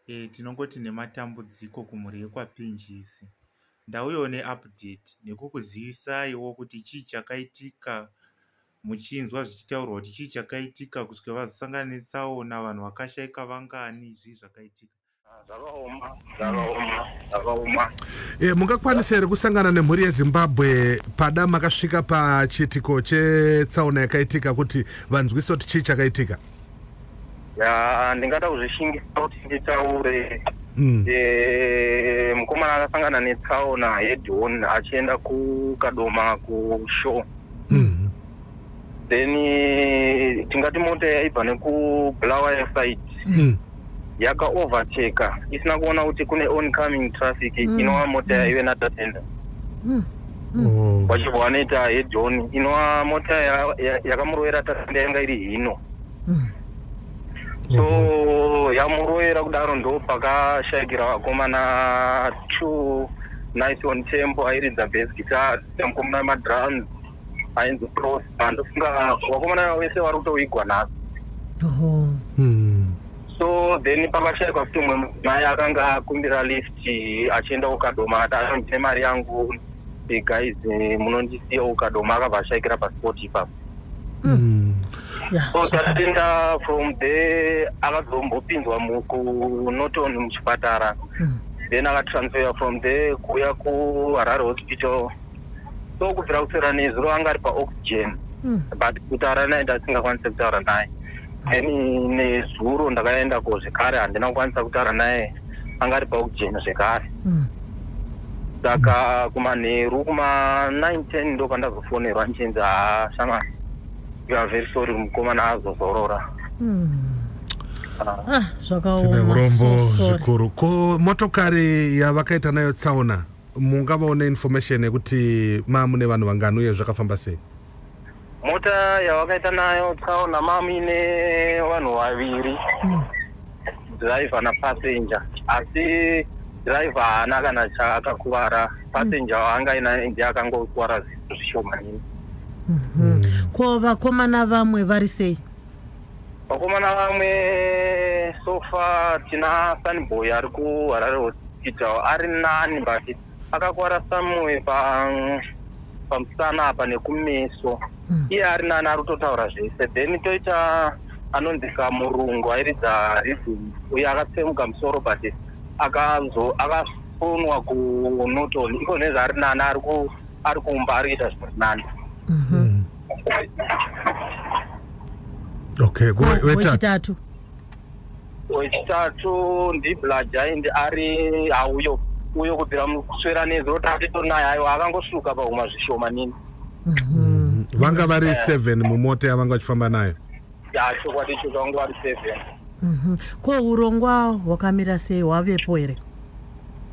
Eh, tinongoti nematambudziko kumhuri yekwapinjisi ndauyawo neupdate nekukuzivisaiwo kuti chii chakaitika muchinzwa zvichitaurwa kuti chii chakaitika kusvika vazosangana netsaona vanhu vakashaika vangani zvii zvakaitika zvakaoma zvakaoma zvakaoma e, mungakwanisa here kusangana nemhuri yezimbabwe pada makasvika pachiitiko chetsaona yakaitika kuti vanzwise kuti chii chakaitika ya ndingada kuzvishingisa kuti nditaure mm. e, mukomana akasangana netsaona yedon achienda kukadoma kushow mm. then eh, tingati mota yaibva nekubulawayo side Mm. yakaoverteka isina kuona kuti kune oncoming traffic Mm. inova mota yaive natatenda Mm. Oh. vachibva vanoita hedhoni inova mota ya- ya- yakamurovera tatenda yanga iri hino Mm. so yamurovera kudaro ndo pakashayikira vakomana two nice on tempo airidza bas guitar mukomana madrums ainzi prosper ndofunga vakomana ava vese vari kutoigwa nhasi Oho. Hmm. so then pakashaikwa kuti umwe mai akanga akumbira lift achienda kukadoma akati anondine mari yangu eh, guys eh, munondisiya kukadoma akabva ashaikira pasport ipapo Hmm. Yeah. so tatenda from there akazombopinzwa mu- kunoton muchipatara Mm. then akatransfera from there kuuya kuharare hospital so kubvira kuswera nezuro anga ari paoxygen mm. but kutaura naye ndasingakwanise kutaura naye then nezuro ndakaenda ko zvekare handina kukwanisa kutaura naye anga ari paoxygen zvekare mm. saka kumanheru kuma9 10 ndo pandazofonerwa ndichinzi haa shama you are very sorry mukomana azozorora mm. Ah, zvakaoma urombo zvikuru ko motokari yavakaita nayo tsaona Mungavawo neinformation yekuti maamune vanhu vangani uye zvakafamba sei? Mota yavakaita nayo tsaona maamine vanhu vaviri mm. driver napassenger asi driver haana kana chaakakuvara passenger mm. waanga inaye ndiye akangokuvara zvinhu zvishomanini mm -hmm. ko vakomana vamwe vari sei? Vakomana vamwe so far tina Sunboy ari kuHarare Hospital ari nani but akakwara somewhere pa pamusana apa nekumeso mm. iye ari nani ari kutotaura zvese then toita anonzi kamurungu airidza riddim uye akatsemuka musoro but akazo akafonwa kunoton iko nezvaari nani ari ku ari kumba ari kuita zviri nani mhm. okay wechitatu wechitatu ndiblajaindi ari hauyo uyo kubvira kuswera nezuro tatitori naye ayo akangosuka pahuma zvishoma nini mhm. vanga vari eh. seven mumota yavanga vachifamba nayo ya chokwadi icho kangu ari seven Mhm. ko urongwa hwakamira sei hwavepo here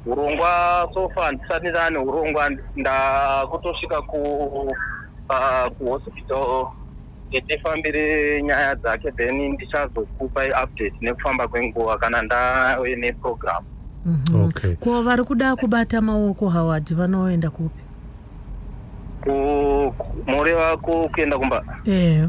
urongwa sofa handisati ndane urongwa ndakutosvika ku ah, kuhospital kuti tifambire nyaya dzake then ndichazokupa update nekufamba kwenguva kana ndave neprogram Mhm. Okay. ko vari kuda kubata maoko howard vanoenda kupi moreva kuenda kumba ehe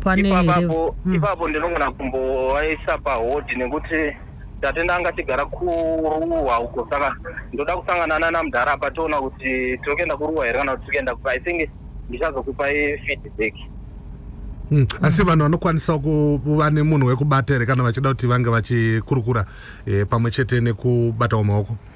pane ipapo mm. ipapo ndinogona kumbovaisa pahodhi nekuti tatenda anga tigara kuruwa uko saka ndoda kusangana nana mudhara apa toona kuti tiri kuenda kuruwa here kana kuti tiri kuenda kupa i think ndichazokupai feedback Mm. asi vanhu vanokwanisawo kuva nemunhu wekubata here kana vachida kuti vange vachikurukura eh, pamwe chete nekubatawo maoko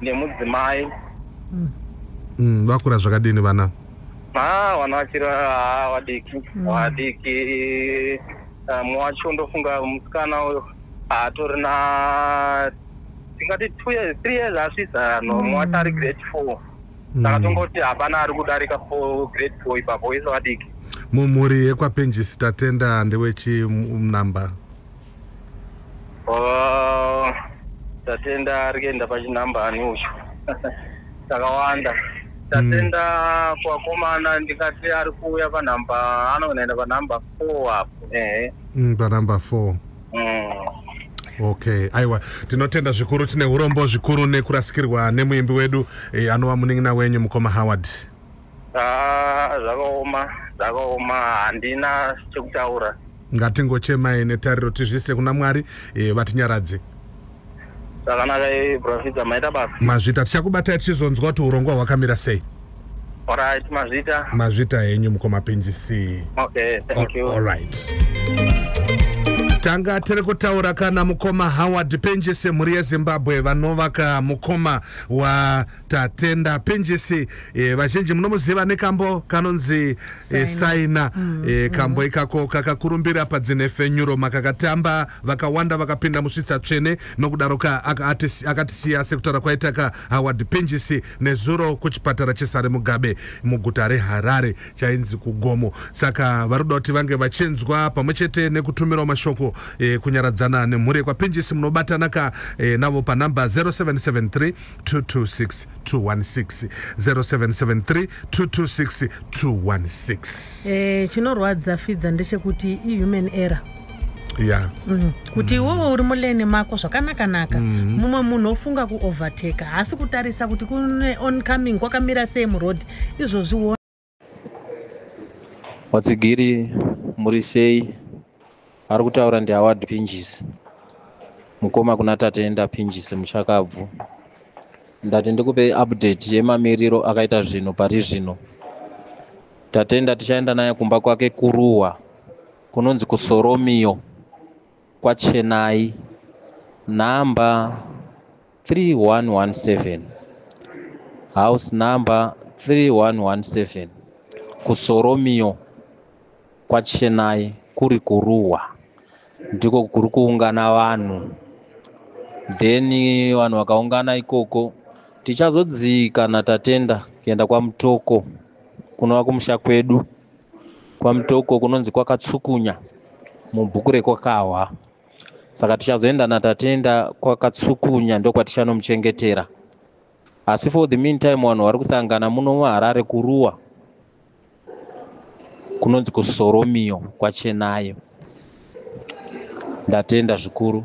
nemudzimai Mm, vakura zvakadini vana ha vana vachiri ha vadiki vadiki Ah, mumwe wacho ndofunga musikana uyo atori na tingati two years three years asvitsa no mumwe wacho ari grade four saka tongoti hapana ari kudarika four grade four ipapo vese vadiki mumhuri yekwapenjisi tatenda ndewechi m- number Oh, tatenda ari kuenda pachinhamba ani ucho takawanda tatenda mm. kwakomana ndikati ari kuuya panhamba anoenda panhamba four apo ehe mm, panhamba four mm okay aiwa tinotenda zvikuru tine urombo zvikuru nekurasikirwa nemuimbi wedu e, anova munin'ina wenyu mukoma howard Ah, zvakaoma zvakaoma handina chekutaura ngatingochemai netariro tizviise kuna mwari eh, vatinyaradze zvakanaka eh, profita maita basa mazvita tichakubatai tichizonzwa kuti urongwa hwakamira sei orit mazvita mazvita henyu mukoma pinjisi okay thank you allright tanga tiri kutaura kana mukoma howard pinjisi mhuri yezimbabwe vanovaka mukoma wa Tatenda Pinjisi eh, vazhinji munomuziva nekambo kanonzi eh, saina mm, eh, kambo mm. ikako kakakurumbira padzinefenyuro makakatamba vakawanda vakapinda musvitsa tsvene nokudaroka akatisiya sekutaura kwaitaka Howard Pinjisi nezuro kuchipatara chesare Mugabe muguta reHarare chainzi kugomo saka vari kuda kuti vange vachinzwa pamwe chete nekutumirawo mashoko eh, kunyaradzana nemhuri yekwaPinjisi munobatanaka eh, navo panhamba 0773 226 eh, chinorwadza fidza ndechekuti ihuman error yeah. mm. kuti mm. iwowo uri muleni mako zvakanakanaka mm. mumwe munhu ofunga kuovertake haasi kutarisa kuti kune oncoming kwakamira sei muroad izvozvi vatsigiri muri sei ari kutaura ndihaward pinjisi mukoma kuna tatenda pinjisi muchakabvu ndati ndikupe update yemamiriro akaita zvinhu pari zvino tatenda tichaenda naye kumba kwake kuruwa kunonzi kusoromiyo kwachenai nhamba 3117 house number 3117 kusoromio kwachenai kuri kuruwa ndiko kuri kuungana vanhu then vanhu vakaungana ikoko tichazodzika natatenda kuenda kwamutoko kunova kumusha kwedu kwamutoko kunonzi kwakatsukunya mubhuku rekwakahwa saka tichazoenda natatenda kwakatsukunya ndokwatichanomuchengetera asi for the meantime vanhu vari kusangana muno muharare kuruwa kunonzi kusoromiyo kwachenayo ndatenda zvikuru